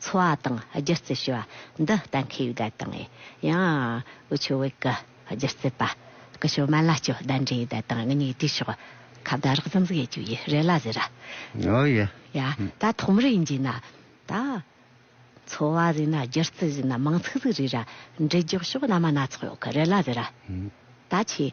འཚོ་བ་དང་སྒྱུ་རྩལ་ཞེས་པ་འདི་གཏན་འཁེལ་ཡུལ་དད་དང། ཡང། ཝུ་ཆུ་ཝེ་ཀི། སྒྱུ་རྩལ་པ། ཀི་ཤོ་མཱ་ལཱ་ཅོ་བདའ་འདྲའི་ཡུལ་དད་དང་ངེད་གཉིས་དུས་ཕྱོགས། ཁ་བརྡ་རགས་ཙམ་ཟིག་ཡས་ཅུ་ཡི་རེ་ལ་ཟེར་ར། ཨོ་ཡེ། ཡ། ད་ཐོག་མར་ཡིན་གྱིས་ན། ད། འཚོ་བ་ཟིག་ན་སྒྱུ་རྩལ་ཟིག་ན་མང་ཚིག་ཟིག་རིག་ར། འབྲི་རྒྱོགས་ཤོག་བླ་མ་སྣ་ཚོགས་ཡོག་གི་རེ་ལ་ཟེར་ར། ད་ཁྱེད།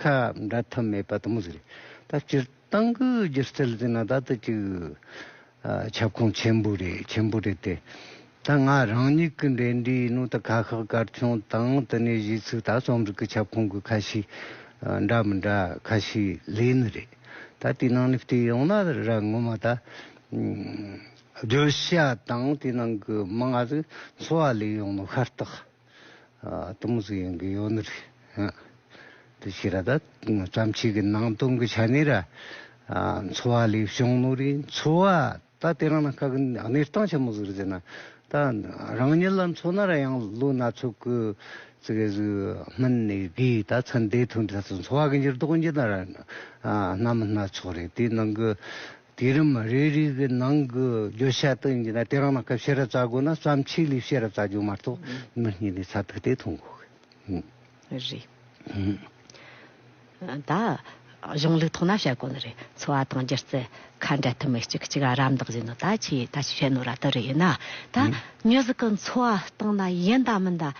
ཁ་འབྲལ་ཐབས་མེད་པ་དང་པོ་ཟེར། ད་སྤྱིར་བཏང་གི་སྒྱུ་རྩལ་ཟེར་ན་ད་ལྟ་གི་ཁྱབ་ཁོངས་ཆེན་པོ་རེད་ཆེན་པོ་རེད་དེ། ད་ང་རང་ཉིད་ཀྱི་འགྲེལ་འདྲིའི་ནང་དུ་ཁ་ཤགས་སྐར་ཆུང་དང་དེ་ནས་གཞིས་ཚིག་ད་རྩོམ་རིག་གི་ཁྱབ་ཁོངས་ཀྱི་ཁ་ཤས་འདྲ་མི་འདྲ་ཁ་ཤས་ལས་ནི་རེད། ད་དེའི་ནང་ནས་བལྟས་ཡོང་ན་ར་ངོ་མ་ད་བརྗོད་བྱ་དང་དེའི་ནང་གི་མིང་ང་ཚོའི་འཚོ་བ་ལས་ཡོང་ནོ་ཤ་སྟག། སྟོང་གཟུགས་ཡོན་གྱི་ཡོན་ནོ། དེ་ཕྱིར་ར་དྭ་ཏམ་ཆོས་ཀྱི་སྣང་སྟོང་གི་ཆ་ནས་ར། འཚོ་བ་ལས་བྱུང་ནོ་རེ། འཚོ་བ་ད་དེ་རང་ན་ཁ་གི་གནས་སྟངས་ཆེན་མོ་ཟུར་ཟེར་ན། ད་རང་ཉིད་ལ་འཚོ་ན་ར་ཡང་ལོ་སྣ་ཚོགས་ཀྱི་ཚེ་གེ་སུ་སྨིན་ནས་གིས་ད་ཚེ་འདས་ཐུན་ད་ཚེ་འཚོ་བ་གི་འགྱུར་ལྡོག་གི་འགྱུར་ན་ར། ནམ་སྣ་ཚོགས་རེ་དེ་ནང་གི་དུས་རིམ་རེ་རེའི་གི་ནང་གི་བརྗོད་བྱ་དང་ཡིན་ན་དེ་རང་ལ་སྐབས་ཕྱེད་ར་བཙལ་དགོས་ན་བརྩམས་ཆོས་ལས་ཕྱེད་ར་བཙལ་རྒྱུ་མ་གཏོགས་མི་གཉིས་ནས་ཚ་ཐུག་དེ་མཐོང་དགོས་གི་ཡིན། རེད། ད། གཞུང་ལུགས་ཐོག་ན་བཤད་དགོས་ནི་རེད་འཚོ་བ་དང་སྒྱུ་རྩལ། ཁ་འབྲལ་ཐུབ་མི་གཅིག་གཅིག་རམ་འདེགས་བྱེད་ནི་ད་ཆའི་ད་ཆའི་བྱེད་ནོར་ར་དེ་རེད་ཡིན་ན། ད། མྱུ་གཟུགས་ཀྱི་འཚོ་བ་སྟངས་ན་ཡིན་དང་མིན་དང།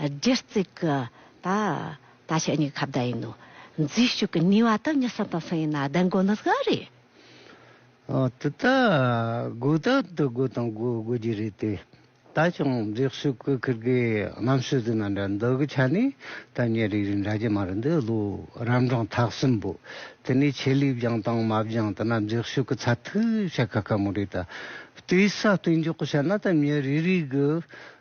སྒྱུ་རྩལ་གྱི། ད། ད་ཆ་གཉིས་ཀ་ཁ་བརྡ་ཡིན་ནོ། འཛུལ་ཞུགས་ཀྱི་ནུས་བ་དང་གཉིས་སམ་དང་གསུམ་ཡིན་ན་བདེན་དགོས་ནི་གང་རེད། འོ་དེ་ལྟ། དགོས་ད་དུ་དགོས་དང་དགོས་དགོས་ཀྱི་རེད་དེ། ད་ཆུང་འཛེགས་ཤུགས་ཀྱི་ཁིར་གི་གནམ་ཤུལ་དུ་ན་འདྲ་འདི་གི་ཆ་ནས་ད་ཉེ་རིག་རིག་འདྲ་གྱི་མ་རེད་འདི་ལོ་རབ་འབྲིང་ཐག་གསུམ་པོ། དེ་ནས་ཆེད་ལས་སྦྱང་དང་མ་སྦྱང་ད་ན་འཛེགས་ཤུགས་ཀྱི་ཚ་ཐུག་བྱ་ཁ་ཁ་མོ་རེད་ད། ལྟོས་ས་ལྟོས་འཇོག་གི་བྱ་ན་ད་ཉེ་རིག་རིག་གི་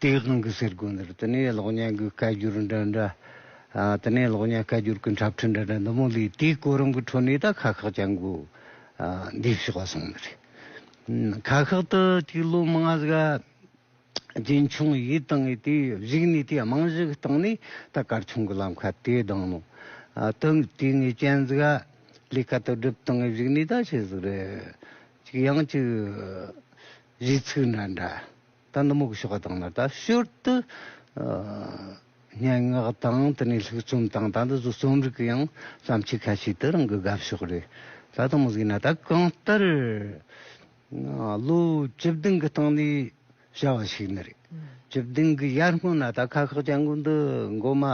དེའི་དབང་གིས་སེར་སྒོ་འདིར་དུ་ནི་གློག་བརྙན་གྱི་སྐད་བསྒྱུར་འདྲ་འདྲ། དུ་ནི་གློག་བརྙན་སྐད་བསྒྱུར་གྱི་འཁྲབ་ཁྲིད་འདྲ་འདྲ་འདུ་མོ་ལས་དེའི་གོ་རིམ་གྱི་ཁྲོད་ནས་ད་ཁག་ཁག་ཅན་གྱི་འདས་ཕྱི་བ་སོང་ནི་རེད། ཁག་ཁག་ཏུ་དེའི་ལོ་མང་ང་ཟིག་རྗེས་འཁྱོངས་ཡིད་བཏང་ངེས་དེ་གཞིགས་ནས་དེའི་རྨང་གཞི་བཏང་ནས་ད་སྐར་ཆུང་གི་ལམ་ཁ་དེ་ལྡང་ནོ། དུ་དེ་ངས་ཅན་ཟིག་ལས་ཀ་དུ་སྒྲུབ་སྟངས་ངས་གཞིགས་ནས་ད་བྱས་ཟིག་རེད། ཅིག་ཡང་ཅིག་གཞི་ཚིག་འདྲ་འདྲ། དང་ནུབ་མོག་ཤོག་དང་ནི་དང་ཞོར་དུ་སྙན་ངག་དང་དེ་ནས་ལྷུག་རྩོམ་དང་ད་ནི་བཟོ་རྩོམ་རིགས་ཀྱི་ཡང་བརྩམས་ཆོས་ཁ་ཤས་དེ་རང་གི་དགའ་ཕྱོགས་རེད། ད་དུང་མི་གཟིགས་ན་ད་གང་ལྟར་ལོ་བཅུ་བདུན་གྱི་སྟེང་ནས་བྱ་བ་ཞིག་ནི་རེད། བཅུ་བདུན་གྱི་ཡར་སྔོན་ན་ད་ཁ་ཁག་ཅང་གུ་འདི་མགོ་མ་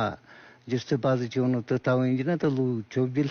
བསྒྱུར་ཚུལ་བ་ཟི་ཅོ་ནི་དེ་ལྟ་བུ་ཡིན་གྱི་ན་ད་ལོ་བཅོ་བརྒྱད།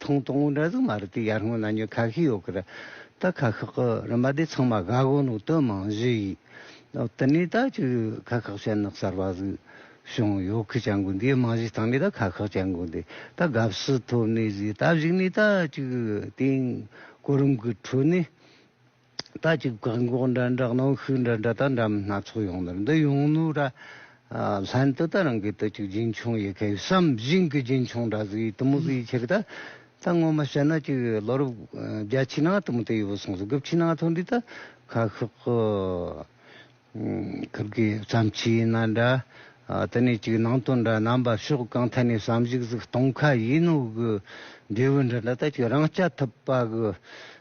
ཐུང་ཐུང་འོ་འདྲ་ཟིག་མ་རེད་དེ་ཡར་སྔོན་ན་ཉོས་ཁ་ཤས་ཡོད་གི་རེད་ད་ཁ་ཁག་གི་རིན་པ་དེ་ཚང་མ་དགའ་གོ་ནུག་དོན་མང་བཞི་ཡིས་དེ་ནས་ད་ཅིག་ཁ་ཁག་ཤ་ནག་གསར་པ་ཟིག་བྱུང་ཡོད་གི་ཅང་གོ་འདིའི་རྨང་གཞི་ཐང་གི་ད་ཁ་ཁག་ཅང་གོ་འདི་ད་དགའ་བསུ་ཐོབ་ནས་ཟིག་ད་གཞིག་ནས་ད་ཅིག་དེང་གོ་རིམ་གི་ཁྲོད་ནས། ད་ཅིག་བཀག་འགོག་འདྲ་འདྲ་གནོན་ཤུགས་འདྲ་འདྲ་དང་འདྲ་མིན་སྣ་ཚོགས་ཡོང་དོན་འདི་ཡོང་ནུས་ར། ལྷན་དུ་ད་རང་གིས་དུ་ཅིག་རྒྱུན་འཁྱོངས་ཡི་གེ་བསམ་བཞིན་གྱི་རྒྱུན་འཁྱོངས་འདྲ་ཟིག་ཡིད་དུ་མི་བཟོད་ཡིད་ཆེ་གི་ད་ད་ངོ་མ་བཤད་ན་ཅིག་ལོ་རབས་བརྒྱ་ཕྱི་ནང་དུ་མི་དེ་ཡོད་པོ་སོང་ཟིག་དགུ་ཕྱི་ནང་ཐོན་དུས་ད་ཁ་ཤོག་གི་ཁབ་ཀྱི་བརྩམས་ཆོས་ཡིན་ན་འདྲ། དེ་ནས་ཅིག་ནང་དོན་འདྲ་རྣམ་པ་ཕྱོགས་གང་ཐད་ནས་བསམ་གཞིག་ཟིག་གཏོང་ཁ་ཡིན་ནོ་གི་འབྲས་བུ་འདྲ་འདྲ་ད་ཅིག་རང་སྐྱ་ཐུབ་པ་གི་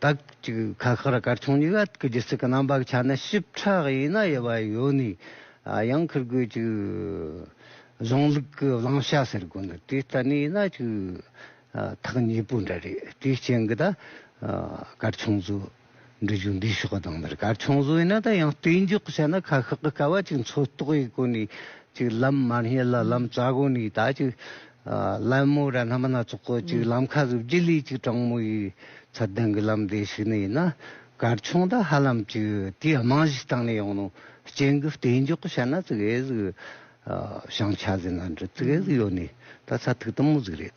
དག་ཅིག་ཁ་ཁག་ར་དཀར་ཆུང་གཉིས་ཀ་གི་སྒྱུ་རྩལ་གྱི་རྣམ་པ་ཆ་ནས་ཞིབ་ཕྲ་ཡིན་ན་དབྱེ་བ་ཡོད་ནི་ཡང་འཁུར་དགོས་ཀྱི། གཞུང་ལུགས་ཀྱི་བླང་བྱ་ཟེར་དགོས་ནི་དེ་ལྟ་ནི་ཡིན་ན་ཐག་ཉེ་པོ་འདྲ་རེད་དེའི་རྐྱེན་གྱི་ད་དཀར་ཆུང་ཚོས། འབྲི་རྒྱུགས་འདིའི་ཕྱོགས་སྡོམ་དར་དཀར་ཆུང་བཟོ་བས་ན་ད་ཡང་བརྟེན་འཇོག་བྱས་ན་ཁ་ཤག་གི་དཀའ་བ་ཅིག་མཚོ་ལྟོགས་ཡི་སྒོ་ནས་ཅིག་ལམ་མར་སྙེག་ལ་ལམ་རྩ་སྒོ་ནས་ད་ཅིག་ལ་མོ་ར་སྣ་མ་སྣ་ཚོགས་སྐོར་ཅིག་ལམ་ཁ་གཟུགས་བརྗིད་ལས་ཅིག་སྤྲང་མོ་ཡི་ཚ་གདངས་ཀྱི་ལམ་དེ་ཞིག་ནི་ཡིན་ན་དཀར་ཆུང་ད་ཧ་ལམ་ཅིག་དེའི་རྨང་གཞི་སྟེང་ནས་ཡང་ནོ་སྐྱེན་གྱི་བརྟེན་འཇོག་བྱས་ན་ཙི་གེ་ཟིག་བྱང་ཆ་ཟིག་ན་འདྲ་ཙི་གེ་ཟིག་ཡོད་ནི་ད་ཚ་ཐིག་དུམ་མོ་ཟིག་རེད།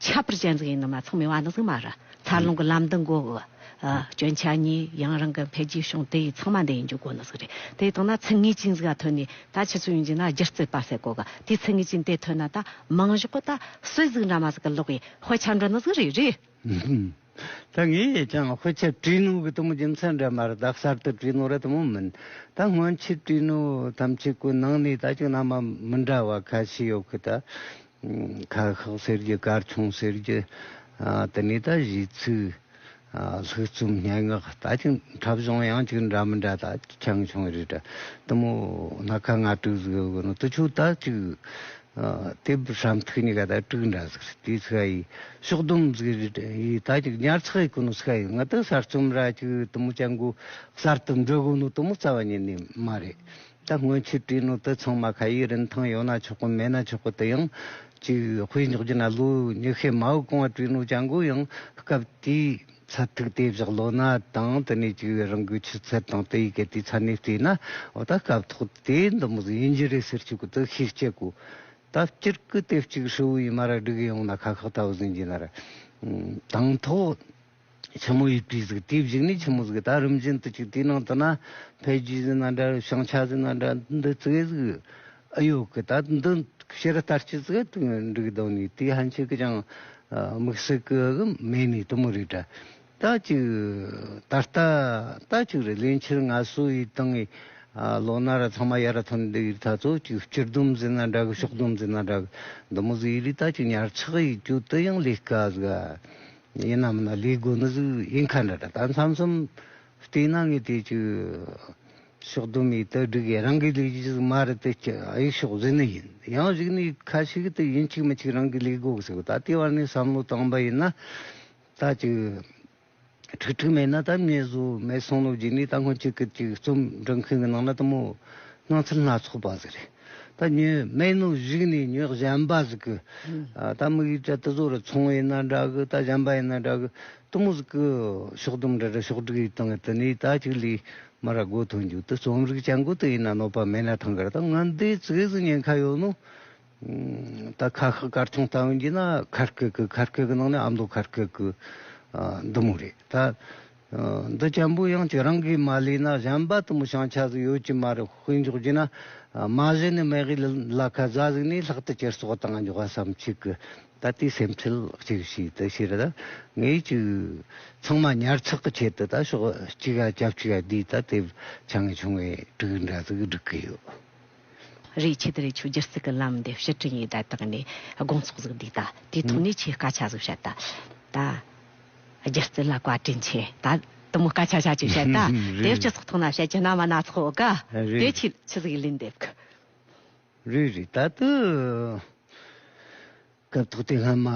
ཁྱད་པར་ཅན་གཟུགས་ཡིན་ནོ་མ་ཚང་མི་དབང་ནི་གཟུགས་མ་རུ་འཚར་ལོངས་ཀྱི་ལམ་འདི་མགོ་བོ། སྐྱོན་ཆ་གཉིས་ཡང་རང་གི་འཕེལ་རྒྱས་བྱུང་དེ་ཡི་ཚང་མ་འདི་ཡི་འཇུག་སྒོ་ནི་གཟུགས་རེད་དེ་ལྟོས་ན་ཚིག་ངེས་ཅན་གཟུགས་ལ་ཐོན་ནས་ད་ཕྱི་ཚུལ་ཡོང་རྒྱུ་ན་སྒྱུ་རྩལ་པ་ཟེར་གོ་གི་དེ་ཚིག་ངེས་ཅན་དེ་ཐོན་ན་ད་མིང་གཞོག་གི་ད་སུས་གཟུགས་འདྲ་མ་གཟུགས་ཀྱི་ལོག་པའི་དཔེ་ཆ་འདྲ་ནི་གཟུགས་རེད་རེད། ད་ངས་ཀྱང་དཔེ་ཆ་བྲིས་ནོ་གི་དུ་མོ་རྒྱུ་མཚན་འདྲ་མ་རུ་ད་གསར་དུ་བྲིས་ནོ་ར་དུ་མོ་མིན་ད་སྔོན་ཆད་བྲིས་ནོ་ཐམས་ཅད་ཀུན་སྣང་ནས་ད་ཅིག་ན་མ་མི་འདྲ་བ་ཁ་ཤས་ཡོད་གི་ད་ཁ་ཤགས་ཟེར་རྒྱུ་སྐར་ཆུང་ཟེར་རྒྱུ་དེ་ནས་ད་གཞི་ཚུགས་ལྷུག་རྩོམ་སྙན་ངག་ལྟ་ཅི་འཁྲབ་གཞུང་ཡང་གཅིག་འདྲ་མི་འདྲ་ད་ཆང་ཆུང་རེད་དྲ་དུ་མོ་སྣ་ཁ་ང་དྲུག་ཟིག་ཡོད་དགོས་ན་དུ་ཆུ་ད་གཅིག་དེ་བཤམས་ཐུགས་གཉིས་ཀ་ད་དྲུག་འདྲ་ཟིག་རེད་དེ་ཚིག་ཡིས་ཕྱོགས་བསྡོམས་ཟིག་རེད་དྲ་ཡིས་ད་གཅིག་ཉར་ཚགས་ཡིས་དགོས་ན་ཚིག་ཡིས་ང་ད་གསར་རྩོམ་ར་གཅིག་དུ་མོ་ཅང་གོ་གསར་དུ་འབྲི་དགོས་ན་དུ་མོ་རྩ་བ་ཉིད་ནས་མ་རེད། ད་སྔོན་ཆོས་སྤྲུལ་ནང་དུ་ཚང་མ་ཁ་ཡི་རིན་ཐང་ཡོད་ན་ཆོག་གི་མེད་ན་ཆོག་གི་དེ་ཡང་ཅིག་དཔེ་འཇོག་རྒྱུ་ན་ལོ་ཉི་ཤུའི་མའུ་ཀང་བ་སྤྲུལ་ནང་བྱ་འགུལ་ཡང་སྐབས་དེའི་ཚབ་ཐིག་དེ་བཞག་ལོ་ན་དང་དེ་ནས་ཅིག་རང་གི་ཆུ་ཚད་དང་དེ་ཡི་གལ་ཏེ་ཚ་ནས་བལྟས་ན་འོ་ད་སྐབས་ཐོག་དེ་འདི་མི་ཡིན་གྱི་རེད་ཟེར་ཆོག་གི་འདུག་ཤེས་སྐྱེ་གོ། ད་སྤྱིར་ཀི་དེབ་ཅིག་ཧྲིལ་བོ་ཡི་མ་ར་སྒྲིག་ཡོང་ན་ཁ་ཁག་ད་བཟོ་འགྱིན་ན་ར། དང་ཐོག། ཆེན་མོ་ཡི་སྤྲུལ་གཟིགས་དེའི་བཞུགས་གནས་ཆེན་མོ་གཟིགས་རྟ་རིམ་བཞིན་དུ་བཅུག་དེའི་ནང་དུ་ན་བྷའི་རྒྱུད་གཟིགས་ན་འདྲ་བྱང་ཆ་གཟིགས་ན་འདྲ་འདུ་བཙུགས་ཨེ་གཟིགས། ཨེ་ཡོད་ཀི་ད་འདི་ཕྱི་རུ་ལྟར་ཆུད་ཟོས་དུ་འགྲིག་གདོད་ནས་དེའི་ཧན་ཆོས་ཀྱི་ཅང་མིག་སེར་ཀི་གི་མེད་ནས་དུ་མོ་རེ་དྲ་ད་བཅུག་ད་རྟ་ད་བཅུག་རེ་ལས་འཕྱིར་ང་སུ་ཡི་དང་ངའི་ལོ་ན་ར་ཚང་མ་ཡར་ཐོན་འདི་ཡི་ད་ཚོ་བཅུག་སྤྱིར་སྡོམ་གཟིགས་ན་འདྲ་གི་ཕྱོགས་སྡོམ་གཟིགས་ན་འདྲ་གི་མདོ་མོ་གཟིགས་ཡི་ལས་ད་བཅུག་ཉར་ཚགས་ཡི་རྒྱུད་དུ་ཡང་ལས་ཀ་གཟིགས། ཡིན་ནམ་ན་ལས་དགོས་ནི་ཟིག་ཡིན་ཁ་འདྲ་ད་མཚམས་མཚམས་བལྟས་ན་ངས་དེ་ཅི་ཕྱོགས་དུ་མའི་དག་སྒྲིག་ཡ་རང་གི་ལས་ཀྱི་ཟིག་མ་རེད་དེ་ཅི་ཨ་ཡིག་ཕྱོགས་ཟིག་ནི་ཡིན་ཡང་གཞིག་ནི་ཡིག་ཁ་ཞིག་དེ་ཡིན་གཅིག་མི་གཅིག་རང་གི་ལས་དགོས་གི་ཟིག་ད་ལྟའི་བར་ནས་བསམ་བློ་བཏང་པ་ཡིན་ན་ད་ཅི་ཁྲིག་ཁྲིག་མེད་ན་ད་མྱི་བཟོ་མེད་སང་ལོ་རྗེས་ནས་ད་སྔོན་གཅིག་གིས་གཅིག་རྩོམ་འབྲི་མཁན་གི་ནང་ན་དུ་མོ་སྣང་ཚུལ་སྣ་ཚོགས་པ་ཟིག་རེད། ད་ཉོན་སྨན་ནུ་གཞིག་ནས་ཉོན་གཞན་པ་ཟིག་གི། ད་དམིགས་ཡུལ་དྲ་ཏི་ཟོ་རུ་ཚོང་བ་ཡིན་ན་འདྲ་གི་ད་གཞན་པ་ཡིན་ན་འདྲ་གི། ཏུ་མུ་ཟིག་གི། ཕྱོགས་དུམ་འདྲ་འདྲ་ཕྱོགས་དྲུག་ཡིག་དང་ཏི་ནི་ད་ཅིག་ལི། མ་ར་སྒོ་ཐོན་རྒྱུག་ཏི་རྩོམ་རིག་བྱ་འགུལ་ཏི་ཡིན་ན་གནོད་པ་མེད་ན་ཐང་གར་ད་ང་འདི་ཚིགས་སུ་ཉན་ཁ་ཡོད་ནོ། ད་ཁ་ཁ་གར་ཐང་ལྟ་བུ་འགྱིས་ན་ཁར་ཁེ་ཁི་ཁར་ཁེ་གི་ནང་ནས་ཨ་མདོ་ཁར་ཁེ་གི། འདི་མོ་རེད་ད། འདི་བྱམས་པོ་ཡང་ཁྱེད་རང་གིས་མ་ལས་ན་གཞན་པ་དུ་མི་བྱང་ཆ་ཟིག་ཡོད་ཀྱི་མ་རེད་དཔེ་འཇོག་རྒྱུ་ན། མ་གཞི་ནས་མེ་གི་ལ་ཁ་བཟའ་ཟིག་ནས་ལྷག་ཏུ་ཁྱེར་སོག་དང་འཇོག་བ་སམ་ཁྱེད་ཀྱི་ད་ལྟའི་སེམས་ཁྲལ་གཅིག་ཤིག་དུ་ཤེས་ད་ངས་ཅིག་ཚང་མ་ཉར་ཚག་གི་ཆེད་དུ་ད་ཤོག་ཅིག་ཡ་རྒྱབ་ཅིག་ཡ་དུས་ད་དེབ་ཆ་ངས་ཆུང་བས་དྲུག་འདྲ་ཟིག་སྒྲིག་གི་ཡོད། རེད་ཁྱེད་དེ་རེད་ཆོས་རྒྱལ་སྲིད་གི་ལམ་འདི་ཕྱིར་དྲན་ཡིག་དྲ་དག་ནས་དགོངས་ཚོགས་ཟིག་འདུག་ད་དེའི་ཐོག་ནས་ཁྱེད་སྐ་ཆ་ཟིག་བཤད་ད་ད་རྒྱལ་རྩེ་ལ་བཀའ་དྲིན་ཆེ་ད་དུ་མོ་སྐ་ཆ་ཆ་ཆུ་བཤད་ད་དེ་སྤྱི་ཚོགས་ཐོག་ན་བཤད་ཀྱི་ན་མ་ན་ཚོགས་དགའ་དེ་ཁྱེད་ཆུ་ཟིག་ལིན་འདེབས་གི། རེད་རེད་ད་དུ། སྐབས་ཐོག་དེ་སྔ་མ་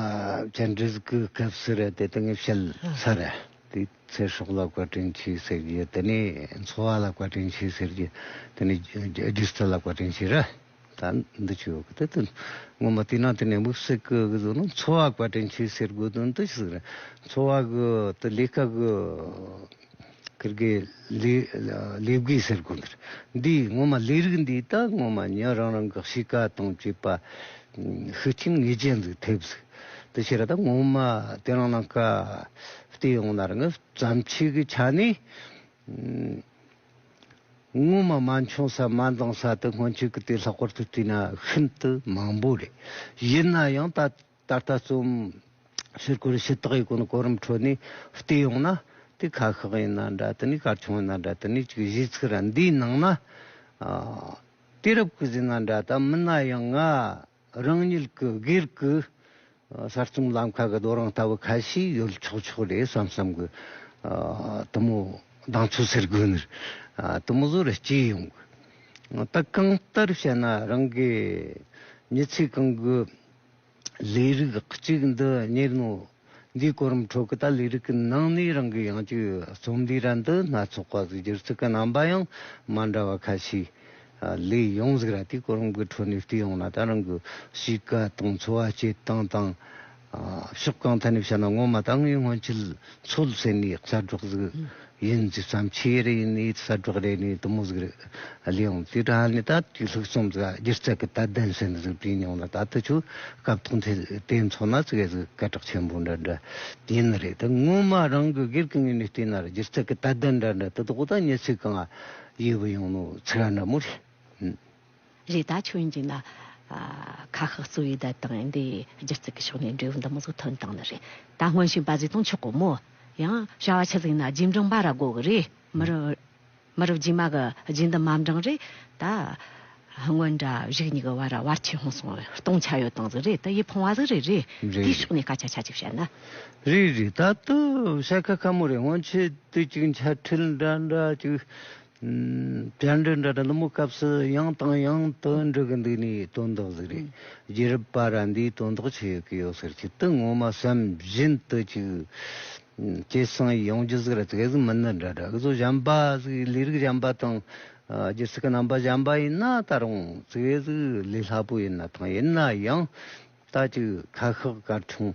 བཅར་འདྲི་གི་སྐབས་སུ་རེད་དེ་དེང་བཤད་ས་རེད། དེའི་ཚེ་སྲོག་ལ་བཀའ་དྲིན་ཆེ་ཟེར་རྒྱུ་དེ་ནི་འཚོ་བ་ལ་བཀའ་དྲིན་ཆེ་ཟེར་རྒྱུ་དེ་ནི་སྒྱུ་རྩལ་ལ་བཀའ་དྲིན་ཆེ་རེད། ད་འདི་ཆོས་གོ་དེ་དོན་ངོ་མ་དེ་ནང་དེ་ནས་དམིགས་བསལ་གི་གཟུགས་ནི་འཚོ་བ་བཀའ་དྲིན་ཆེ་ཟེར་དགོས་དོན་དུ་ཞིག་རེད། འཚོ་བ་གི་དེ་ལས་ཀ་གི། ཀིར་གེ། ལེ་བགོས་ཟེར་དགོས་འདིར། འདི་ངོ་མ་ལས་རིགས་འདི་ད་ངོ་མ་ཉིན་རང་རང་གི་གཤིས་ཀ་དང་བཅས་པ་ཤུགས་རྐྱེན་ངེས་ཅན་ཟིག་ཐེབས་ཟིག་དེ་ཕྱིར་ད་ངོ་མ་དེ་རང་རང་ག་བལྟས་ཡོང་ན་རང་བརྩམས་ཆོས་ཀྱི་ཆ་ནས་ངོ་མ་མ་འཁྱོངས་ས་མ་འདང་ས་དེ་སྔོན་ཆད་ཀྱི་དེ་ལྷག་པར་དུ་བལྟས་ན་ཤིན་ཏུ་མང་པོ་རེད། ཡིན་ན་ཡང་ད་ད་ལྟ་རྩོམ་ཕྱིར་སྐོར་ཞི་དག་གི་སྒོ་ནས་གོ་རིམ་ཁྲོད་ནས་བལྟས་ཡོང་ན། དེ་ཁ་ཤགས་ཡིན་ན་འདྲ་དེ་ནས་གར་ཆུང་ཡིན་ན་འདྲ་དེ་ནས་གཅིག་གཞིས་ཚིག་ར་འདིའི་ནང་ན་དུས་རབས་ཀྱི་ཟིན་ན་འདྲ་ད་མིན་ན་ཡང་ང་རང་ཉིད་ཀྱི་སྒེར་གྱི་གསར་རྩོམ་ལམ་ཁ་གི་རྡོ་རིང་ལྟ་བུ་ཁ་ཤས་ཡོད་ཆོག་ཆོག་རེད་བསམ་བསམ་གྱི་དུ་མོ་གདངས་ཚོད་ཟེར་དགོས་ནི་དུ་མོ་བཟོ་རུ་སྐྱེས་ཡོང་གི་ད་གང་ལྟར་བཤད་ན་རང་གི་མྱི་ཚེ་གང་གི། ལས་རིགས་གཅིག་འདི་གཉེར་ནོ། འདིའི་གོ་རིམ་ཁྲོད་ཀྱི་ད་ལས་རིགས་ཀྱི་ནང་ནས་རང་གི་ཡང་སྤྱོད་རྩོམ་འདིའི་ར་འདི་སྣ་ཚོགས་པ་གྱི་སྒྱུ་རྩལ་གྱི་རྣམ་པ་ཡང་མ་འདྲ་བ་ཁ་ཤས་ལས་ཡོང་ཟིག་ར་དེའི་གོ་རིམ་གྱི་ཁྲོད་ནས་བལྟས་ཡོང་ན་ད་རང་གི་གཤིས་ཀ་དང་འཚོ་བ་སྐྱེལ་སྟངས་དང། ཕྱོགས་གང་ཐད་ནས་བཤད་ན་ངོ་མ་ད་ངའི་སྔོན་ཆད་འཚོ་ལ་སེམས་ནས་ལྕགས་སྒྲོག་ཟིག་ཡིན་ཇི་ཙམ་ཆེ་རེ་ནས་གསལ་སྒྲག་རེ་ནས་དུ་མོ་ཟིག་རེ་ལས་འོང་དེ་དྲ་ནས་ད་དུས་ལྷུག་རྩོམ་ཟིག་སྒྱུ་རྩལ་གྱི་དད་ལྡན་སེམས་གཟུགས་བྲིས་མྱོང་ལ་ད་དུ་ཆོས་སྐབས་ཐོག་མཐའི་དེ་མཚོ་ན་ཟིག་ཟིག་སྐད་གྲགས་ཆེན་པོ་འདྲ་འདྲ་ཡིན་ནི་རེད་དེ་སྔོན་མ་རང་གི་སྒེར་གྱི་ངོས་ནས་བལྟས་ན་རེ་སྒྱུ་རྩལ་གྱི་དད་ལྡན་འདྲ་འདྲ་དེ་དག་དང་གཉེར་ཚིག་གང་ཡོད་པ་ཡིན་ནོ་ཚིག་འདྲ་མོ་རེད། རེ་ད་ཆོས་འཇིག་ན། ཁ་ཤགས་གཙོ་བའི་དད་དང་འདི་སྒྱུ་རྩལ་གྱི་ཕྱོགས་ནས་འབྲས་བུ་འདི་མོ་ཟུག་ཐོན་དང་ནི་རེད་ད་སྔོན་ཤིང་པ་བཟི་དང་ཆོག་གོ་མོ། ཡང་བྱ་བ་ཆུ་ཟིག་ན་རྗེས་འབྲང་པ་ར་དགོ་གི་རེད་མི་རུ། མི་རུ་རྗེས་མ་གི་རྗེས་འདི་མ་འབྲང་རེད་ད། སྔོན་འདྲ་བཞུགས་གཉིས་ཀྱི་བར་ར་བར་ཆེ་ཧོང་སོང་བས་སྟོང་ཆ་ཡོད་དང་ཟིག་རེད་ད་ཡིད་ཕོང་བ་ཟིག་རེད་རེད་དེའི་ཕྱོགས་ནས་སྐད་ཆ་ཆ་གཅིག་བཤད་ན། རེད་རེད་ད་ལྟོ་བྱ་ཁ་ཁ་མོ་རེད་སྔོན་ཆད་དུས་གཅིག་འཆལ་ཁྲིད་འདྲ་འདྲ་གཅིག་བཅར་འདྲི་འདྲ་འདྲ་མོ་སྐབས་སུ་ཡང་དང་ཡང་དུ་འདྲི་གི་འདུག་ནས་དོན་དག་ཟིག་རེད། རྒྱལ་རབས་པ་ར་འདིས་དོན་དག་ཆེ་ཡོད་ཀི་ཡོད་ཟེར་ཆེད་དུ་ངོ་མ་བསམ་བཞིན་དུ་ཅིག། ཅེས་གསུངས་ཡོང་རྒྱུ་ཟིག་རེད་དེ་ག་ཟིག་མི་སྣ་འདྲ་འདྲ་སྐུ་གཟུགས་གཞན་པ་ཟིག་ལས་རིགས་གཞན་པ་དང། སྒྱུ་རྩལ་གྱི་རྣམ་པ་གཞན་པ་ཡིན་ན་ད་རུང་དེ་ག་ཟིག་ལས་སླ་པོ་ཡིན་ན་ཐང་ཡིན་ན་ཡང་ད་ཅིག་ཁ་ཤགས་གར་བྱུང།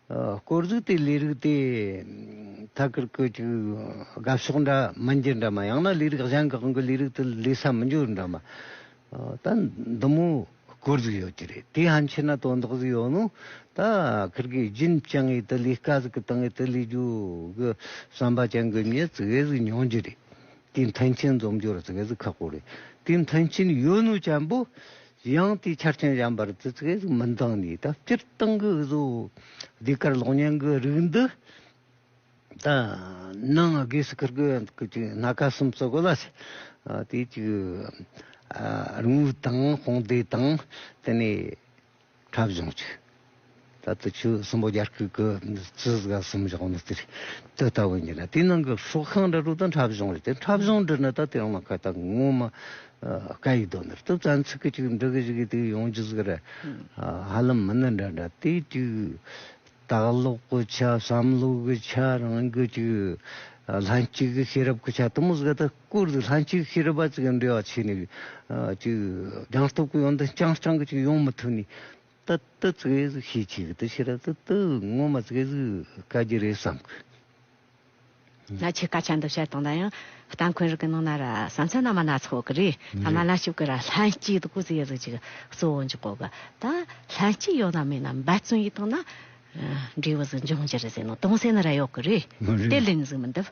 དཀོར་གཟུགས་དེའི་ལས་རིགས་དེ་ཐ་གིར་ཀི་ཅིག་དགའ་ཕྱོགས་འདྲ་མི་འགྱུར་འདྲ་མ་ཡང་ན་ལས་རིགས་གཞན་གང་གི་ལས་རིགས་དེ་ལས་ས་མི་འགྱུར་འདྲ་མ་ད་འདི་མོ་དཀོར་གཟུགས་ཡོད་ཀྱི་རེད་དེ་ཧན་ཆེ་ན་དོན་དག་གཟུགས་ཡོད་ནོ་ད་གིར་གི་རྒྱུན་བཅང་ངེས་དེ་ལས་དཀའ་གཟུགས་གི་སྟེང་ངེས་དེ་ལས་རྒྱུ་གི་བསམ་པ་ཅན་གི་ཉིད་ཙི་གེ་གཟུགས་ཉུང་རྒྱུ་རེད་དེའི་མཐུན་རྐྱེན་འཛོམས་རྒྱུར་ཙི་གེ་གཟུགས་ཁག་པོ་རེད་དེའི་མཐུན་རྐྱེན་ཡོད་ནོ་བྱམས་པོ། ཡང་དེའི་ཆ་རྐྱེན་གཞན་པར་དུས་ཚོད་ཟིག་མི་འདང་ནས་ད་སྤྱིར་བཏང་གི་བཟོ་ལས་གར་ལོག་གཉན་གྱི་རིགས་འདི་དང་ནང་སྒོས་སུ་ཁུར་དགོས་ཀྱི་ཅིག་སྣ་ཁ་གསུམ་བཙོ་དགོས་ལ། དེའི་ཅིག་དངུལ་དང་དཔུང་སྡེ་དང་དེ་ནས་འཁྲབ་གཞུང་ཅིག། ད་ལྟ་ཆུ་གསུམ་པོ་རྒྱ་སྐུད་ཀྱི་ཙི་གཟུགས་ཁ་གསུམ་བཞག་ནས་དེར་དུ་ལྟ་བུ་ཉིད་ལ་དེའི་ནང་གི་ཧྲུག་ཁང་འདྲ་དྲུག་དང་འཁྲབ་གཞུང་རེ་དེ་འཁྲབ་གཞུང་འདི་ནི་ད་ལྟའི་ཡོང་ན་ཁ་ཐག་ངོ་མ་ཀ་ཡི་དོ་འདིར་དུ་རྩ་འཚིག་གི་ཅིག་འབྲི་གི་ཞིག་གིས་དེ་ཡོང་རྒྱུ་ཟིག་རེད། ཧ་ལམ་མི་ནི་འདྲ་འདྲ་དེ་ཅིག་སྟག་ལོག་གི་ཆ་བསམ་བློ་གི་ཆ་རང་གི་ཅིག་ལྷན་སྐྱེས་ཀྱི་ཤེས་རབ་ཀྱི་ཆ་དུ་མོ་ཟིག་ད་བསྐུར་འདུག་ལྷན་སྐྱེས་ཀྱི་ཤེས་རབ་པ་ཅིག་གི་འབྲེལ་བ་ཆད་ནས་ཅིག་རྒྱང་སྟོབས་ཀྱི་ཡོན་ཏན་རྐྱང་རྐྱང་གི་ཅིག་ཡོང་མི་ཐུབ་ནས། ཏི་ཏི་ཙི་གེ་ཟིག་ཤེས་ཆེ་གི་ཏི་ཤི་ར་ཏི་ཏི་ངོ་མ་ཙི་གེ་ཟིག་དཀའ་རྒྱུ་རེད་བསམ་གི། ན་ཆེ་དཀའ་ཆ་འདི་བཤད་སྟངས་ལ་ཡང་སྟངས་འཁོན་རིག་གི་ནང་ན་ར་བསམ་ཚད་ན་མ་ན་ཚོགས་གི་རེད་ད་མ་ན་ཤུག་གི་ར་ལྷན་སྐྱེས་དུ་གུ་ཙི་གེ་ཟིག་ཅིག་གཙོ་བོ་འཇུག་གོ་གི་ད་ལྷན་སྐྱེས་ཡོད་ན་མེད་ན་འབད་བརྩོན་ཡིད་བཏང་ན་འབྲས་བུ་ཟིག་འབྱུང་གི་རེད་ཟེར་ནོ་སྟོང་ཟད་ན་ར་ཡོད་གི་རེད་དེ་ལིང་ཟིག་མི་འདུག།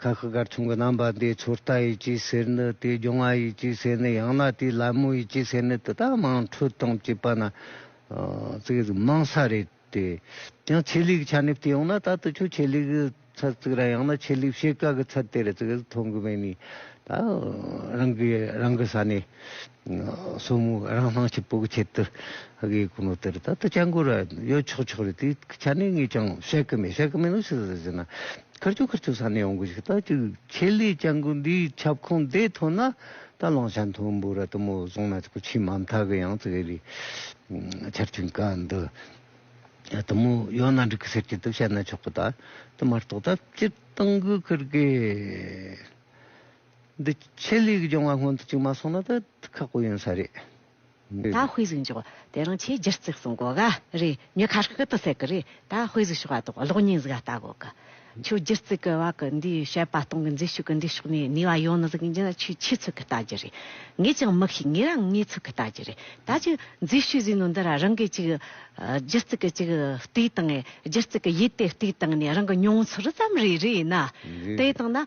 ཁ་ཤི་ཀར་ཆུང་གི་རྣམ་པ་འདི་ཚུར་ལྟ་ཡི་སྐྱེས་ཟེར་ནི་དེ་སྒྱུང་བ་ཡི་སྐྱེས་ཟེར་ནི་ཡང་ན་དེ་ལད་མོ་ཡི་སྐྱེས་ཟེར་ནི་དེ་དག་མང་འཕྲོས་དང་བཅས་པ་ན་ཙིག་རིགས་མང་ས་རེད་དེ། ཡང་ཆེད་ལུགས་ཆ་ནས་བལྟས་ཡོང་ན་ད་ལྟ་ཆོས་ཆེད་ལུགས་ཀྱི་ཚར་ཙིག་ར་ཡང་ན་ཆེད་ལུགས་བཤད་བཀའ་གི་ཚར་དེ་ར་ཙིག་མཐོང་གི་མེད་ནི་ད་རང་གི་རང་གི་ས་ནས། སོར་མོ་རང་སྣང་ཆུ་སྤུག་ཁྱེར་དུ་གཡོས་ཀུ་ནུ་དེར་ད་ལྟ་སྐྱ་འགུ་ར་གཡོས་ཆོག་ཆོག་རེད་དེའི་ཆ་ནས་ངས་ཀྱང་བཤད་ཀྱི་མེད་བཤད་ཀྱི་མེད་ནོ་ཞིག་ཟེར་ཟེར་ན་ཁར་ཆུ་ཁར་ཆུ་ས་ནས་ཡོང་གི་ཞིག་ལྟ་ཅི་ཁྱེད་ལས་སྐྱ་འགུ་འདིའི་ཁྱབ་ཁོངས་འདས་ཐོན་ན་ད་གླང་ཆ་མཐོན་པོ་ར་དུ་མོ་བཟུང་ན་ཆུ་ཆེན་མ་མཐའ་གི་ཡང་ཙིག་རི་ཆར་ཆུ་འགའ་འདི་ར་དུ་མོ་ཡོད་ན་འགྲིག་གི་ཟེར་གྱི་འདུག་བཤད་ན་ཆོག་གི་ད་དུ་མར་ཏོག་ད་སྤྱིར་བཏང་གི་ཁུར་དགོས། འདི་ཆེད་ལས་ཀྱི་སྦྱོང་བ་སྔོན་དུ་བཅུག་མ་སོང་ན་ད་ཁག་པོ་ཡོང་ས་རེད། ད་དཔེ་གཟིགས་འཇོག་དེ་རང་ཆེས་སྒྱུར་བརྩིགས་སུ་འགོ་ག་རེ་ཉི་ཁ་ཤུལ་དུ་སད་གི་རེད་ད་དཔེ་གཟིགས་ཞོག་ཨ་དོག་གློག་བརྙན་གཟིགས་ཨ་ལྟ་གོ་གི། ཁྱོད་སྒྱུར་བརྩིགས་གི་བ་གི་འདིའི་བཤད་པ་སྟོང་གི་མཛེས་ཤོས་ཀྱི་འདི་ཕྱོགས་ནས་ནུས་བ་ཡོང་ནི་གཟིགས་ཀྱིན་ན་ཆུས་ཆུས་ཚུགས་གི་ལྟ་རྒྱུ་རེད། ངས་ཀྱང་མི་ཤེས་ངས་རང་ངས་ཚུགས་གི་ལྟ་རྒྱུ་རེད་ད་ཅི་མཛེས་ཤོས་གཟིགས་ནོ་འདི་ར་རང་གིས་ཅིག་སྒྱུར་བརྩིགས་གི་ཅིག་བལྟས་དང་སྒྱུར་བརྩིགས་གི་ཡིད་དེ་བལྟས་དང་ནས་རང་གི་མྱོང་ཚོར་ཙམ་རེ་རེ་ཡིན་ན་དེ་དང་ན།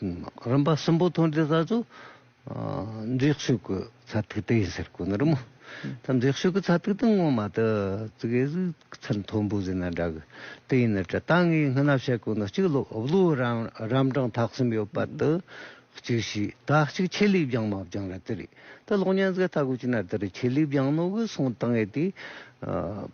རིམ་པ་གསུམ་པོ་ཐོན་འབྲས་ས་ཆུ་འཛེག་ཤུགས་ཀྱི་ཚ་ཐིག་དེ་ཡིན་ཟེར་དགོས་ནི་རི་མོ་ཐ་འཛེག་ཤུགས་ཀྱི་ཚ་ཐིག་དང་ངོ་མ་དུ་ཙིག་ཨེ་ཟི་ཚིལ་མཐོན་པོ་ཟེར་ན་འདྲ་གི་དེ་ཡིན་ནི་དྲི་དང་ངའི་སྔན་ན་བཤད་དགོས་ནི་གཅིག་ལོའུ་རམ་གྲངས་ཐག་གསུམ་ཡོད་པ་དུ་གཅིག་བྱས་ད་གཅིག་ཆེད་ལས་བྱང་མ་བྱང་ར་དེ་རེད་དེ་གློག་བརྙན་ཟེར་ཐག་གོ་ཅི་ན་དེ་རུ་ཆེད་ལས་བྱང་ནོ་གི་སོང་དང་ཨེ་དེ་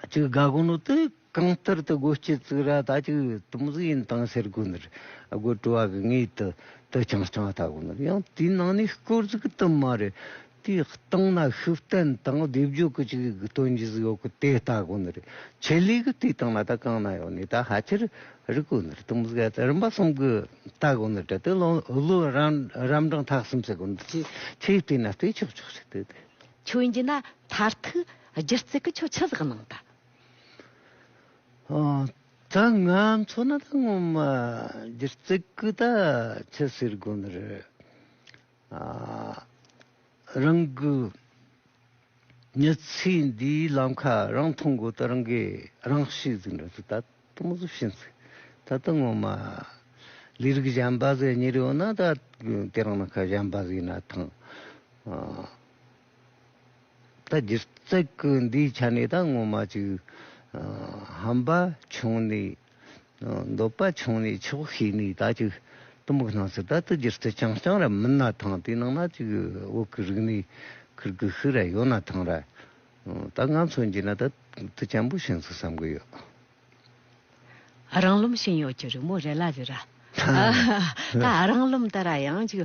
གཅིག་དགའ་དགོངས་ནོར་དེ་གང་ལྟར་དུ་སྒོ་སྐྱེས་བཙུགས་ར་ད་ཅིག་དུམ་བཟོས་ཡིན་དང་ཟེར་དགོས་ནོར་སྒོ་བཀྲུ་བ་གི་ངེས་དུ་དུ་ཆང་རྐྱང་བལྟ་དགོས་ནོར་ཡང་དེའི་ནང་ནས་སྐོར་གཟུགས་དུམ་མ་རེ་དེའི་སྟེང་ན་ཤུགས་བསྟན་དང་སྡེབ་སྦྱོར་གྱི་ཅིག་དོན་གྱི་གཟུགས་ཡོད་གི་དེ་བལྟ་དགོས་ནོར་ཆེད་ལས་གི་དེའི་སྟེང་ན་ད་གང་ན་ཡོད་ནས་ད་ཧ་ཅིར་རིག་དགོས་ནོར་དུམ་བཟོས་ད་རིམ་པ་གསུམ་གི་བལྟ་དགོས་ནོར་དེ་དུས་ལོ་རང་རམ་གྲངས་ཐག་གསུམ་བྱེད་དགོས་ནོར་ཅེས་ཆེས་བལྟས་ན་བལྟས་ཆོག་ཆོག་ཆོག་དེ་དེ། ཆོས་འཇིག་ན་མཐར་ཐུག་སྒྱུ་རྩལ་གྱི་ཆོས་ཆུ་ཟགས་ནང་དུ། ད་ང་མཚོ་ན་ད་སྔོན་མ་སྒྱུ་རྩལ་གྱི་ད་ཆུ་ཟེར་དགོས་ནི་རེད། རང་གི་མྱི་ཚེ་འདིའི་ལམ་ཁ་རང་མཐོང་དགོས་ད་རང་གིས་རང་ཤེས་ཟིག་འདྲ་ཚོད་ད་དུ་མི་ཟིག་ཤེས་ཟིག་ད་ད་སྔོན་མ་ལས་རིགས་གཞན་པ་ཟེར་ཉི་རེ་ཡོད་ན་ད་དེ་རང་ན་ཁ་གཞན་པ་ཟིག་ཡིན་ན་ཐང། ད་གྱུར་ཙག་གི་འདིའི་ཆ་ནས་ད་ངོ་མ་ཅིག་ཧམ་པ་ཆུང་ནས་འདོད་པ་ཆུང་ནས་ཆོག་ཤེས་ནས་ད་ཅིག་གཏི་མུག་སྣང་སྲིད་ད་ད་གྱུར་ཙི་རྐྱང་རྐྱང་ར་མིན་ན་ཐང་དེ་ནང་ན་ཅིག་འོག་གི་རིག་གནས་ཁུར་གི་ཤུ་ར་ཡོད་ན་ཐང་ར་ད་ང་ཚོ་འགྱིས་ན་ད་དུ་སྐྱམ་པོ་བྱིན་སོང་བསམ་གི་ཡོད། ཨ་རང་ལུམ་ཤིང་ཡོག་གྱི་རི་མོ་རེད་ལ་རི་ར། ད་ཨ་རང་ལུམ་ད་ར་ཡང་ཅིག།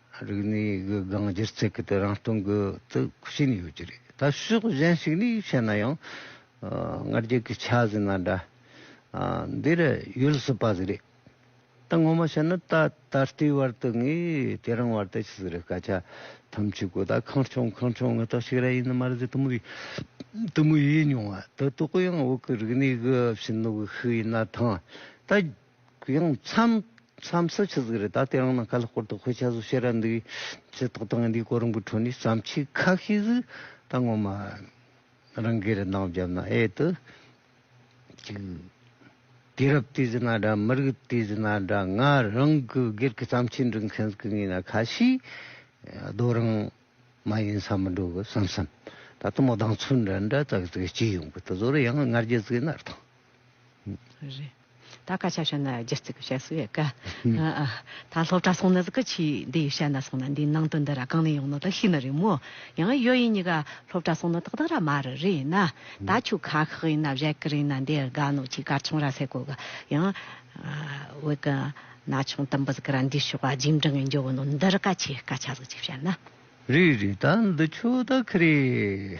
རིག་གནས་གི་སྒང་སྒྱུ་རྩལ་གྱི་དེ་རང་སྟོང་གི་དུ་ཕྱིན་ཡོད་ཀྱི་རེད། ད་ཕྱོགས་གཞན་ཞིག་ནས་བཤད་ན་ཡང། སྔར་རྒྱུད་ཀྱི་ཆ་ཟིན་ན་འདྲ། འདི་རུ་ཡོད་སྲིད་པ་ཟིག་རེད། ད་ངོ་མ་བཤད་ན་ད་ད་ལྟའི་བར་དུ་ངས་དེ་རང་བར་དུ་ཅི་ཟིག་རེད་སྐད་ཆ་ཐམས་ཅད་གོ་ད་ཁང་ཆུང་ཁང་ཆུང་ངེས་རྟོགས་ཤིག་རེ་ཡིན་ནི་མ་རེད་ཟེར་དུ་མུ་དུ་མུ་ཡིས་མྱོང་བ་དུ་དོག་གོ་ཡང་འོག་གི་རིག་གནས་གི་བྱིན་རླབས་ཤིག་ཡིན་ན་ཐང། ད། གུ་ཡངས་མཚམས་མཚམས་སུ་ཆུ་ཟིག་རི་དྭགས་དེ་རང་ནང་ཁ་ལ་སྐོར་དུ་ཁོས་ཆ་ཟུག་བྱེད་ར་འདུག་ཇི་ཐོག་ཏུ་ང་འདིའི་གོ་རིམ་གྱི་ཁྲོད་ནས་བརྩམས་ཆོས་ཁ་ཤས་ཟིག་ད་ངོ་མ་རང་གིས་རི་འདང་བརྒྱབ་ན་ཨེ་ལྟོས། གཅིག། དུས་རབས་དུས་ཟིག་ན་འདྲ་མི་རིགས་དུས་ཟིག་ན་འདྲ་ང་རང་གི་སྒེར་གྱི་བརྩམས་ཆོས་འབྲི་མཁན་ཟིག་གི་ངོས་ན་ཁ་ཤས་རྡོ་རིང་མ་ཡིན་ས་མི་འགྲོ་གི་བསམ་བསམ་ད་དུང་མོ་ལྡང་ཚུལ་འདྲ་འདྲ་ཙག་ཙིག་བྱེད་ཡོང་གི་འདུག་ཟོ་རུ་ཡང་སྔར་རྒྱུ་ཟིག་ནར་ཐང། ད་ཀ་ཆ་ཤོད་ན་རྒྱུ་རྩིག་གི་ཤ་སུ་ཡི་གི། ད་སློབ་གྲྭ་སོང་ན་ཟི་གི་ཆི་འདི་ཡི་ཤ་ན་སོང་ན་འདིའི་ནང་དོན་འདི་ར་གང་ནས་ཡོང་ནོ་ད་ཤི་ན་རེད་མོ། ཡང་ཡོད་ཡིན་ཉི་ག་སློབ་གྲྭ་སོང་ན་ཏག་ཏག་ར་མ་རི་རི་ཡིན་ན། ད་ཆུ་ཁ་ཁག་ཡིན་ན་བཞད་གི་རིན་ན་འདི་ཡི་ག་ནོ་ཆི་དཀར་ཆུང་ར་སེ་གོ་གི་ཡང། འོད་གི་ན་ཆུང་དུམ་བུ་ཟི་གི་ར་འདི་ཤོག་བ་རྗེས་འབྲང་ཡིན་འཇོ་བོ་ནོ་འདི་རི་ཀ་ཆི་ཀ་ཆ་ཟི་ཆི་བྱ་ན། རི་རི་ད་འདི་ཆུ་ད་ཁི་རེད།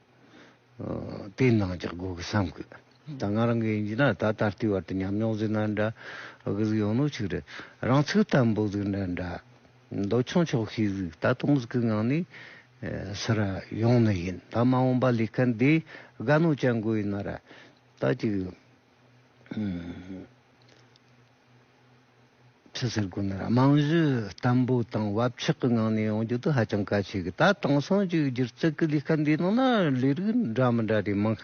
དེའི་ནང་འཇགས་དགོས་ཀི་བསམ་གི། ད་ང་རང་གི་ཡིན་གྱི་ན་ད་ད་ལྟའི་བར་དུ་ཉམས་མྱོང་གཟིགས་ན་འདྲ། གི་གཟིགས་ཡོང་ནོ་ཆིག་རེད། རང་ཚིག་ལྟ་འབུག་གཟིགས་འདྲ་འདྲ། མདོ་ཆུང་ཆོག་ཤེས་གཟིགས་ད་དུང་གི་ངང་ནས། སི་ར་ཡོང་ནི་ཡིན་ད་མ་འོངས་པ་ལས་སྐལ་འདི་དགའ་ནོ་བྱ་འགོ་ཡིན་ན་ར། ད་ཅིག། ཁྲི་ཟུར་དགོན་གནས་རྨང་གཞི་བརྟན་པོ་དང་བབ་ཆགས་ཀྱི་ངང་ནས་ཡོང་རྒྱུ་དེ་ཧ་ཅང་གལ་ཆེ་གི་ད་དེང་སང་གཅིག་གྱུར་བརྩེགས་ཀྱི་ལས་ཀ་འདིའི་ནང་ན་ལས་རིགས་འདྲ་མི་འདྲ་རེ་མང་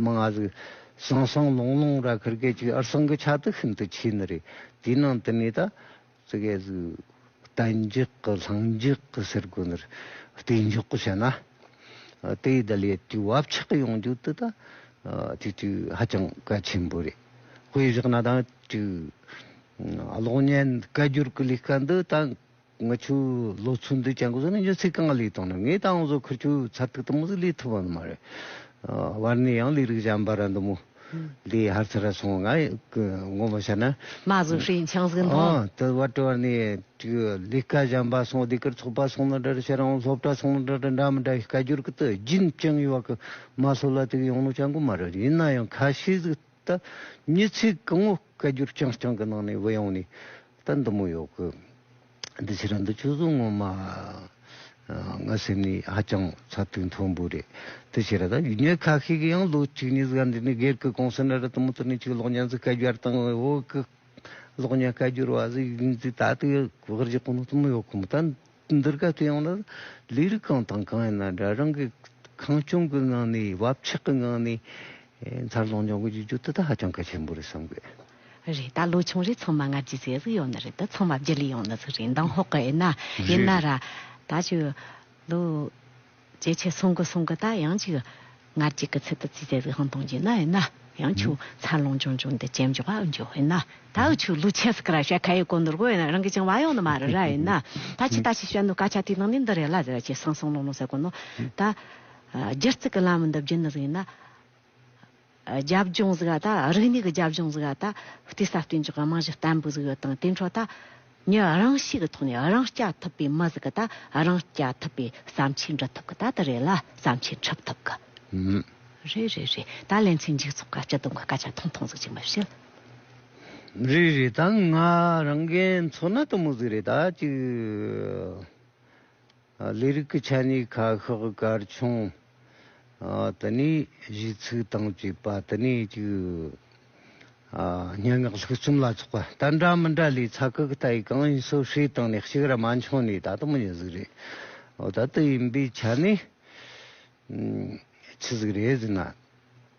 མང་ང་ཟིག་སང་སང་ལོང་ལོང་ར་ཁུར་གད་ཅིག་ཨར་སང་གི་ཆ་དེ་ཤིན་ཏུ་ཆེ་ནི་རེད་དེའི་ནང་དུ་ནས་ད་ཙི་གད་ཟིག། གཏན་འཇགས་ཀྱི་ལྷིང་འཇགས་ཀྱི་ཟེར་སྒོ་འདིར་གཏན་འཇགས་བྱས་ན། དེའི་བརྡ་ལས་དུས་བབ་ཆགས་ཡོང་རྒྱུ་དེ་དག་དུས་དུས་ཧ་ཅང་གལ་ཆེན་པོ་རེད། དཔེ་བཞག་ན་དང་དུས་གློག་བརྙན་བཀའ་བསྒྱུར་གྱི་ལས་ཀ་འདི་དང་ང་ཚོའི་ལོ་ཚོད་འདི་བྱ་འགོ་བཟུང་ནས་མཇུག་ཚེ་གང་ལས་བཏང་ནས་ངས་ད་ང་ཚོ་ཁུལ་ཆུ་ཚ་དུག་དང་མུ་ཟི་ལས་ཐུབ་པ་འདི་མ་རེད། བར་ནས་ཡང་ལས་རིགས་གཞན་པ་ར་འདི་མོ། འདི་ཧར་ཚ་ར་སོང་ང་ངོ་མ་ཤ་ན། མ་གཟུགས་ཧྲིའི་འཆང་གཟུགས་མཐོང། དུ་བ་དྲི་བ་ནི་ལི་ཀ་བྱམས་པ་སོང་འདི་གར་ཚོགས་པ་སོང་ན་འདྲ་ར་ཤ་རང་སློབ་གྲ་སོང་ན་འདྲ་ར་འདྲ་མི་འདྲ་ཤ་ཀ་རྒྱུར་ཀི་ཏི་རྒྱུན་བཅིང་ཡོ་བ་ཀི་མ་སོ་ལ་ཏིག་ཡོང་ནོ་ཅང་གུ་མ་ར་ཡིན་ན་ཡང་ཁ་ཤི་ཟིག་ཏ་མྱི་ཚིག་ཀི་ངོ་ཀ་རྒྱུར་བཅིང་བཅིང་ཀི་ནང་ནས་བི་ཡོང་ནི་ཏ་འདི་མོ་ཡོ་ཀི། འདི་ཕྱིར་རང་དུ་ཆོས་གཟུགས་ངོ་མ་ང་སེམས་ནི་ཧ་ཅང་ཚ་དུས་མཐོན་པོ་རེད། དེ་ཕྱིར་རང་ཡུལ་ཉོས་ཁག་ཤིག་གི་ཡང་ལོ་གཅིག་གཉིས་སྒར་འདི་ནས་སྒེར་གི་གོང་ས་ན་རི་དང་མུ་ཏོ་ནས་ཆུ་གློག་བརྙན་ཚུ་བཀའ་བསྒྱར་དང་འོ་ཀི་གློག་བརྙན་བཀའ་བསྒྱུར་བ་ཟིག་ཡིན་ཚུལ་ད་དུ་ཡོད་རྗེས་གོ་ནོར་དུ་མི་ཡོད་ཁོམ་ད་འདིར་ག་དུས་ཡོང་ན་ལས་རིགས་གང་དང་གང་ཡིན་ན་འདྲ་རང་གི་ཁང་སྐྱོང་གི་ངང་ནས་བབ་ཆགས་ཀྱི་ངང་ནས་མཚར་ལོངས་འབྱུང་གི་ཡོད་རྒྱུ་དེ་དག་ཧ་ཅང་གལ་ཆེན་པོ་རེད་བསམ་དགོས། རེད་ད་ལོ་ཆུང་རེ་ཚང་མ་སྔར་གྱི་ཟས་ཟོས་ཡོང་ནི་རེད་ད་ཚང་མ་བརྗེ་ལེ་ཡོང་ནི་ཚོད་རེད་མདང་ཧོ་ཀི་ཨེ་ན་ཨེ་ན་ར་ད་ཆུ་ལུ་ཇེ་ཆེ་སོང་གི་སོང་གི་ད་ཡང་ཆུ་སྔར་གྱི་གི་ཚད་དུ་ཚིས་ཟས་ཟོས་ཧང་དང་ཡིན་ན་ཨེ་ན་ཡང་ཆུ་འཚར་ལོངས་ཅུང་ཅུང་དེ་ཇེ་མགྱོགས་ཨེ་མགྱོགས་ཨེ་ན་ད་ཨུ་ཆུ་ལུ་ཆེ་སི་ཀི་ར་བཤད་ཁ་ཡེ་གོ་ནུར་གོ་ཨེ་ན་རང་གི་ཅང་བ་ཡོང་ནི་མ་རེད་ར་ཨེ་ན་ད་ཆུ་ད་ཆུ་བཤད་ནི་སྐ་ཆ་དེའི་ནང་ནས་འདི་རེད་ལ་ཟེར་བ་ཆེ་སང་སང་ལོང་ལོང་ཟེར་གོ་ནོ་ད་རྒྱུ་རྩིག་གི་ལམ་འདི་བརྒྱུད་ནི་ཟིག་ཡིན་ན། རྒྱབ་ལྗོངས་ཟིག་ད་རིག་གནས་ཀྱི་རྒྱབ་ལྗོངས་ཟིག་ད་བལྟས་ས་བསྟན་འཇགས་རྨང་གཞི་བརྟན་པོ་ཟིག་ཡོད་དང་དེ་འཕྲོ་ད་ངས་རང་ཤེས་ཀྱི་ཐོག་ནས་རང་སྐྱ་ཐུབ་པའི་མི་ཟིག་ད་རང་སྐྱ་ཐུབ་པའི་བསམ་ཆས་འབྲི་ཐུབ་ཀྱི་ད་དེ་རེད་ལ་བསམ་ཆས་འཁྲབ་ཐུབ་ཀྱི་རེད་རེད་རེད་ད་ལན་ཚེ་འཇིགས་ཚོགས་ཀྱི་སྤྱི་དོན་གྱི་སྐད་ཆ་ཐུང་ཐུང་ཟིག་ཅིག་མི་བཤད། རེད་རེད་ད་ང་རང་རྒན་མཚོ་ནད་དུ་མོ་ཟིག་རེད་ད་ཅིག། ལས་རིགས་ཀྱི་ཆ་ནས་ཁ་ཤགས་སྐར་ཆུང་དུ་ནས་གཞིས་ཚུགས་དང་བཅས་པ་དུ་ནས་ཅིག་སྙན་ངག་ལྷུག་རྩོམ་ལ་ཚོགས་པ་ལྟར་འདྲ་མི་འདྲ་ལས་ཚ་ཁུག་ལྟ་ཡི་གང་ཡིན་སོ་བསྲེས་བཏང་ནས་གཅིག་ར་མ་འཆོང་ནས་ད་དུང་མི་ཉུང་ཟིག་རེད། ད་དུ་ཡིན་པའི་ཆ་ནས་ཆི་ཟིག་རེད་ཟེར་ན།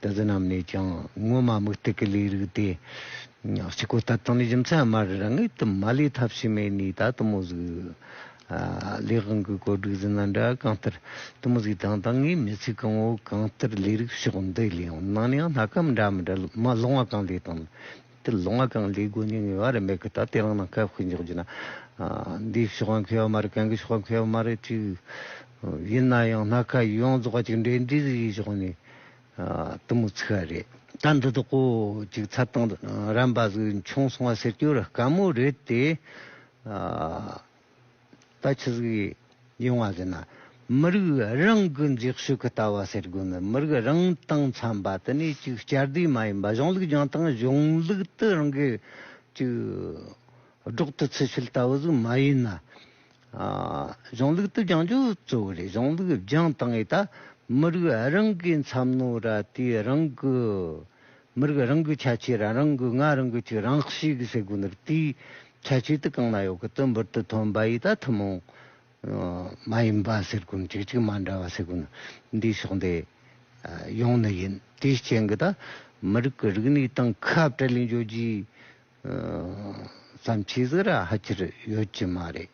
དེ་དག་རྣམས་ནས་ཀྱང་སྔོན་མ་དམིགས་གཏད་ཀྱི་ལས་རིགས་ཏེ། གཅིག་གོ་ཐབས་དང་རྒྱུ་མཚན་སྨྲ་རང་ངེས་དུ་མ་ལས་ཐབས་ཕྱི་མའི་ནུས་དག་གཏི་མུག་གཟུགས། ལས་དབང་གི་གོ་སྒྲིག་ཟིན་ན་འདྲ་གང་ལྟར་གཏི་མུག་གཟུགས་དང་དང་ངེས་མེད་ཚིག་གང་བོ་གང་ལྟར་ལས་རིགས་ཕྱོགས་འདི་ལའང་སྣང་ནའང་སྣ་ཁ་མི་འདྲ་མི་འདྲ་མ་ལོང་བ་གང་ལས་དང། དེར་ལོ་ང་གང་ལས་དགོས་ནུས་ངེས་པ་རེད་མེད་གི་ད་ལྟའི་རང་སྣང་ཁ་ཕུད་འཇོག་རྒྱུ་ན། འདིའི་ཕྱོགས་ཁ་འཁེལ་བ་མ་རེད་གན་གི་ཕྱོགས་ཁ་འཁེལ་བ་མ་རེད་ཅིག། ཡིན་ན་ཡང་སྣ་ཁ་ཡོངས་རྫོགས་ཀྱི་འབྲེལ་འདྲིས་ཀྱི་ཕྱོགས་ནས་དུམ་བུ་ཚིག་བ་རེད། ད་འདི་དག་གོ་ཅིག་ཚ་གཏང་རན་པ་ཟིག་འཁྱོངས་སོང་བ་ཟེར་རྒྱུ་ར་དཀའ་མོ་རེད་དེ། ད་ཆུ་ཟིག་ཡོང་བ་ཟེར་ན་མི་རིགས་རང་གི་འཛེགས་ཤོས་ཀྱི་ལྟ་བ་ཟེར་དགོས་ནི་མི་རིགས་རང་དང་འཚམས་པ་དེ་ནི་ཅིག་བསྐྱར་ཟློས་མ་ཡིན་པ་གཞུང་ལུགས་སྦྱང་སྟངས་གཞུང་ལུགས་དུ་རང་གི་ཅིག་སྒྲོག་ཏུ་ཚུད་ཚུལ་ལྟ་བུ་ཟིག་མ་ཡིན་ན་གཞུང་ལུགས་དུ་སྦྱང་རྒྱུ་གཙོ་བོ་རེད་གཞུང་ལུགས་སྦྱང་སྟངས་ཨི་ད་མི་རིགས་རང་གི་འཚམས་ནོ་ར་དེའི་རང་གི་མི་རིགས་རང་གི་ཁྱད་ཆོས་རང་རང་གི་ང་རང་གི་ཆོས་རང་ཞིག་གི་སེ་གོ་ནོར་དེའི་ཁྱད་ཆོས་དེ་གང་ན་ཡོད་གི་དོན་འབུར་དུ་ཐོན་པ་ཡིས་ད་ཐུན་མོང་མ་ཡིན་པ་སེར་ཀུན་གཅིག་གཅིག་མ་འདྲ་བ་སེ་གོ་ནོར་འདིའི་ཕྱོགས་འདི་ཡོང་ནི་ཡིན་དེའི་རྐྱེན་གི་ད་མི་རིགས་གི་རིག་གནས་དང་ཁ་བྲལ་ལས་འབྱོར་རྒྱུའི་བརྩམས་ཆོས་ཟིག་ར་ཧ་ཅིར་ཡོད་ཀྱི་མ་རེད་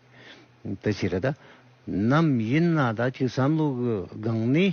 དེ་ཕྱིར་ད་ནམ་ཡིན་ན་ད་ཁྱོད་བསམ་བློ་གི་སྒང་ནས།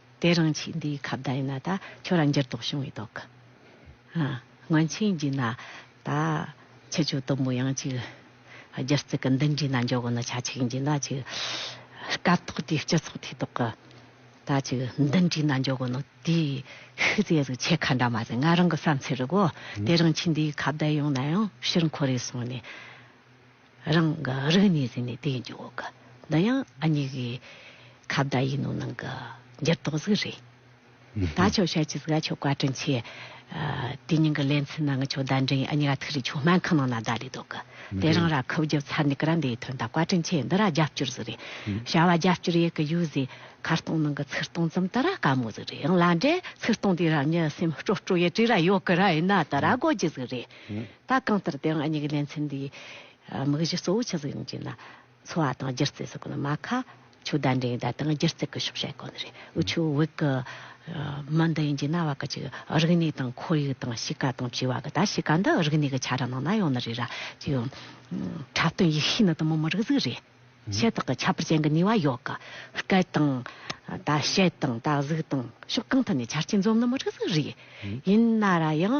དེ་རང་ཕྱིས་འདིའི་ཁ་བརྡ་ཡིན་ན་ད་ཁྱོད་རང་འགྱུར་ལྡོག་བྱུང་བའི་དོག་གི། སྔོན་ཆད་རྒྱུས་ན་ད་ཁྱི་ཆོས་དུམ་བུ་ཡང་ཅིག། སྒྱུ་རྩལ་གི་འདི་འདྲའི་ན་འཇོག་གི་ན་ཆ་ཅིག་རྒྱུས་ན་ཅིག། སྐབས་ཐོག་དེའི་སྤྱི་ཚོགས་དེའི་ཐོག་གི་ད་ཅིག་འདི་འདྲའི་ན་འཇོག་གི་ན་དེའི་ཤུལ་རྫས་རིགས་ཆད་ཁ་འདྲ་མ་རེད་ང་རང་གི་བསམ་ཚུལ་རེད་གོ། དེ་རང་ཕྱིས་འདིའི་ཁ་བརྡ་ཡོང་ན་ཡང་ཕྱིར་འཁོར་རེ་སོང་ནས། རང་གི་རིགས་ནི་ཟིན་ནས་དེའི་འཇུག་གི། འདི་ཡང་ཨ་མྱེས་ཀྱི། ཁ་བརྡ་ཡིན་ནོ་ནང་གི། འགྱུར་ལྡོག་གཟུགས་རེད། ད་ཆོག་ཤར་གྱི་གཟུགས་ཀ་ཆོག་བཀའ་དྲིན་ཆེ། དེ་སྙིང་གི་ལན་ཚིག་ནང་གི་ཆོག་བརྡ་འདྲེན་ཨ་མྱེས་ར་ཐུག་རེད་ཆོག་སྨན་ཁང་ནང་ན་བརྡ་ལས་དོག་གི། དེ་རང་ར་ཁུབ་རྒྱབ་ཚར་ནས་ཀི་ར་འདའི་དོན་དང་བཀའ་དྲིན་ཆེ་འདི་ར་རྒྱབ་སྐྱོར་གཟུགས་རེད། བྱ་བ་རྒྱབ་སྐྱོར་ཡས་ཀི་ཡོད་གཟིགས་ཁ་སྟོང་ནང་གི་ཚིག་སྟོང་ཙམ་དེ་ར་དཀའ་མོ་གཟུགས་རེད་ཡང་ལ་འདྲེ་ཚིག་སྟོང་དེ་ར་མྱི་སེམས་སྤྲོ་སྤྲོ་ཡས་བྲིས་ར་ཡོག་གི་ར་ཡིན་ན་དེ་ར་དགོས་ཀྱི་གཟུགས་རེད། ད་གང་ལྟར་དེའང་གཉིས་ཀྱི་ལེ་ཚན་འདིའི་དམིགས་གཞི་གཙོ་བོ་ཆུ་གཟུགས་ཡོངས་ཀྱི་ནང་འཚོ་བ་དང་སྒྱུ་རྩལ་སོགས་ཀྱི་ནང་མ་ཁ་ཆུ་བརྡ་འགྲེལ་བརྡ་དང་སྒྱུ་རྩལ་གྱི་ཤོག་བྱ་ཡི་གོ་གནས་རེད། དབུས་ཆུ་བོད་ཀྱི་མི་འདི་ཡིན་གྱི་གནའ་བ་ཀྱི་ཆུ་རིག་གནས་དང་ཁོར་ཡུག་དང་གཤིས་ཀ་དང་བྱིས་བ་ཀྱི་ད་གཤིས་ཀ་འདི་རིག་གནས་ཀྱི་ཆ་ར་ནང་ན་ཡོང་ནི་རེད་ར་ཅི་ཡོད། འཁྲབ་སྟོན་ཡིག་ཤེས་ནི་དུ་མ་མི་རིགས་གཟུགས་རེད། ཤེས་རྟོགས་ཀྱི་ཁྱད་པར་ཅན་གྱི་ནུས་བ་ཡོད་ཀྱི། སྐད་དང། ད་བཤད་དང་ད་གཟུགས་དང་ཕྱོགས་གང་ཐད་ནས་ཆ་རྐྱེན་འཛོམས་ནི་མི་རིགས་གཟུགས་རེད། ཡིན་ན་ར་ཡང།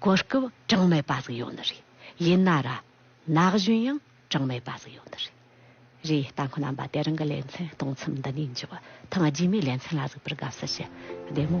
གོ་སྐབས་གྲངས་མེད་པ་ཟིག་ཡོང་ནི་རེད། ཡིན་ན་ར། ན་གཞོན་ཡང་གྲངས་མེད་པ་ཟིག་ཡོང་ནི་རེད། རེད་ལྟ་མཁོ་རྣམ་པ་དེ་རང་གི་ལེ་ཚན་སྟོང་ཚིམ་འདི་ནས་འཇུག་ཐང་རྗེས་མའི་ལེ་ཚན་ལ་གཟིགས་པར་དགའ་བསུ་ཞུ། བདེ་མོ།